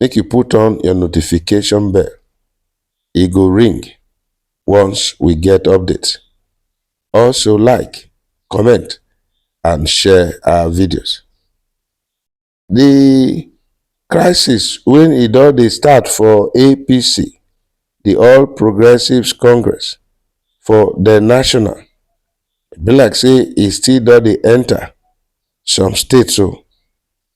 make you put on your notification bell, e go ring once we get update. Also like, comment and share our videos. The crisis when e don dey start for APC, the All Progressives Congress for the national, e be like say e still don dey enter some states o.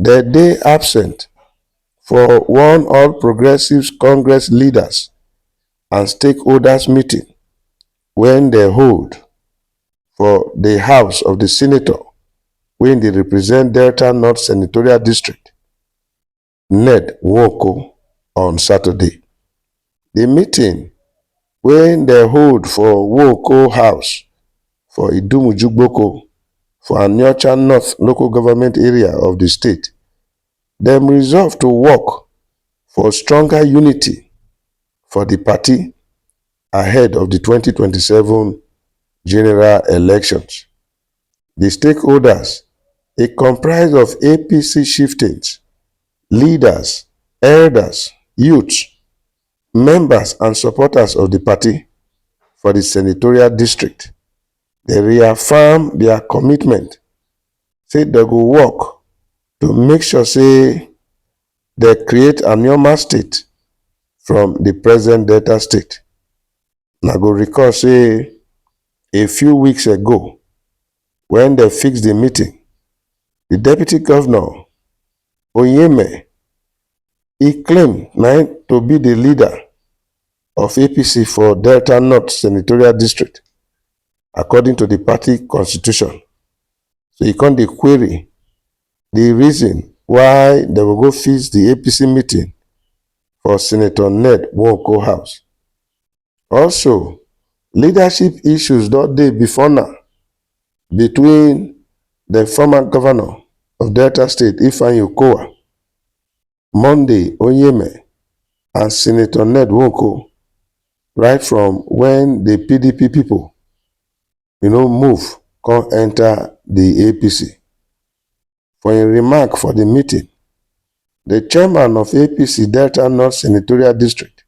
dem dey absent for one all progressives congress leaders and stakeholders meeting wey dem hold for di house of di senator wey dey represent delta north senatorial district ned nwoko on saturday. the meeting wey dem hold for Nwooko house for Idumuju Gboko for Aniocha North local government area of the state, dem resolve to work for stronger unity for the party ahead of the twenty twenty seven general elections. di stakeholders e comprise of apc chieftains leaders elders youths members and supporters of di party for di senatorial district dey reaffirm dia commitment say dem go work to make sure say dem create anioma state from di present delta state. Una go recall say. a few weeks ago when dem fix the meeting, the deputy governor, Onyeme, e claim na im to be the leader of APC for Delta North Senatorial District according to the party constitution. So e come dey query the reason why dem go go fix the APC meeting for Senator Ned Nwoko house. Also, leadership issues don dey before now between the former governor of Delta State, Ifeanyi Okowa, Monday Onyeme, and Senator Ned Nwoko, right from when the PDP people, you know, move come enter the APC. For im remark for di meeting, di chairman of APC Delta North Senatorial District,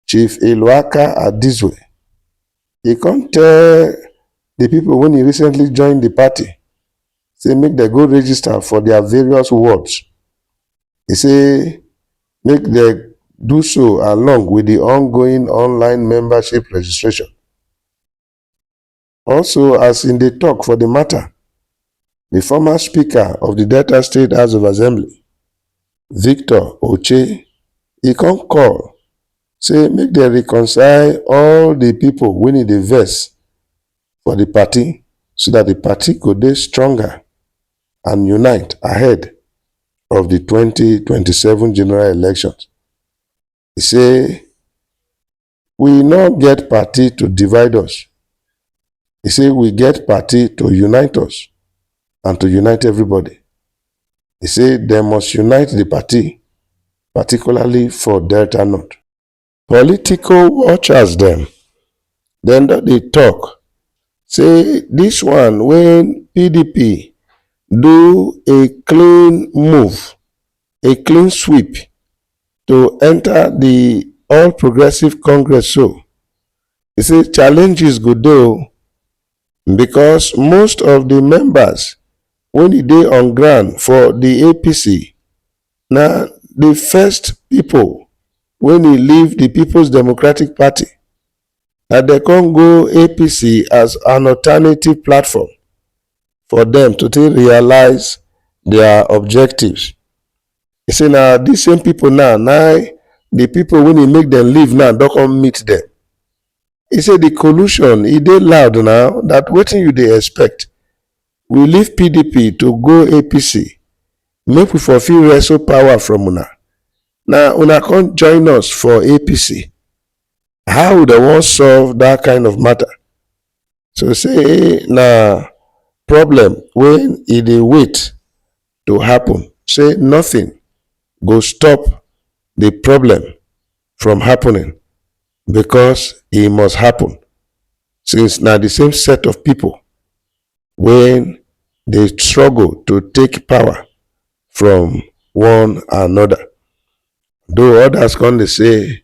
Chief Iloaka Adizwe, e come tell di pipo wey e recently join di party say make dem go register for dia various wards. E say make dem do so along wit di ongoing online membership registration. Also, as im dey tok for di mata, di former speaker of di Delta State House of Assembly, Victor Oche, e come call say make dem reconcile all di pipo wey e dey vex for di party so dat di party go dey stronger and unite ahead of di twenty twenty seven general elections. E say. We no get party to divide us. He say we get party to unite us and to unite everybody. He say they must unite the party, particularly for Delta North. Political watchers them. Then they talk. Say this one when PDP do a clean move a clean sweep to enter the All Progressive Congress so. He say challenges go dey o because most of the members wey e dey on ground for the APC na the first people wey e leave the People's Democratic Party and dem come go APC as an alternative platform. for dem to take realize their objectives. E say na these same people now na the people wey dey make dem leave now don come meet them. E say the collusion e dey loud now that wetin you dey expect we leave pdp to go apc make we for fit wrestle power from una na una come join us for apc how we dey wan solve that kind of matter to say na problem wey e dey wait to happen say nothing go stop the problem from happening because e must happen since na the same set of people wey dey struggle to take power from one another though others come dey say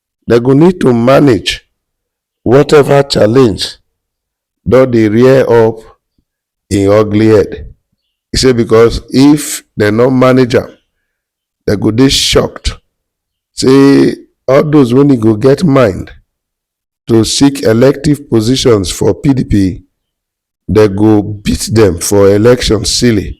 dem go need to manage whatever challenge don dey rear up im ugly head. E say because if dem no manage am, dem go dey shocked say all those wey e go get mind to seek elective positions for PDP, dem go beat dem for election silly.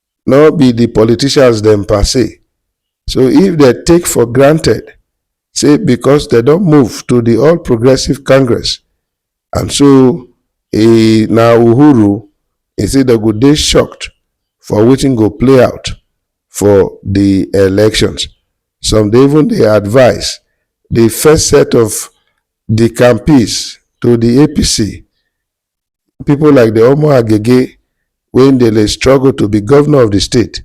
nor be di politicians dem per se, so if dem take for granted say becos dem don move to di All Progressives Congress and so e na Uhuru, e say dem go dey shocked for wetin go play out for di elections. Some dey even dey advise di first set of di campees to di APC pipo like di omo agege wey dey dey struggle to be govnor of di state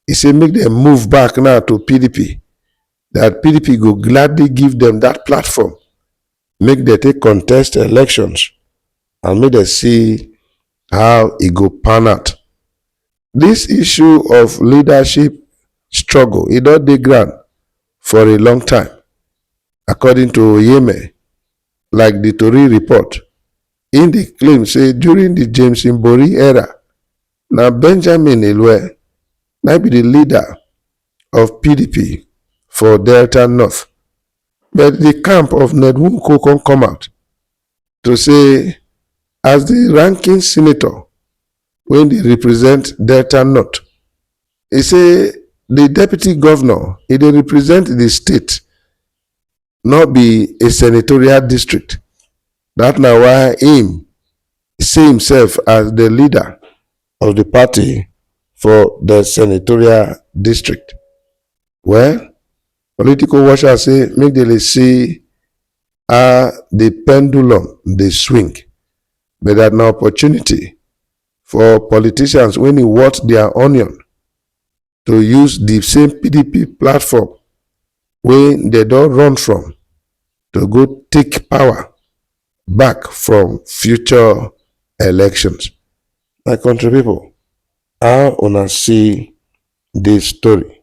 e say make dem move back now to pdp dat pdp go gladly give dem dat platform make dem take contest elections and make dem see how e go pan out dis issue of leadership struggle e don dey ground for a long time according to oyeme Like di tori report, im dey claim say during di James Mbori era, na Benjamin Elweh na be di leader of pdp for Delta North, but di camp of Ned Nwoko come come out to say as di ranking senator wey dey represent Delta North, e say di deputy govnor e dey represent di state. no be a senatorial district. That na why im see himself as the leader of the party for the senatorial district. Well, political watchers say make they see how the pendulum dey swing, but that na opportunity for politicians when e worth their onion to use di same pdp platform wey dem don run from to go take power back from future elections. My country pipo how una see dis story?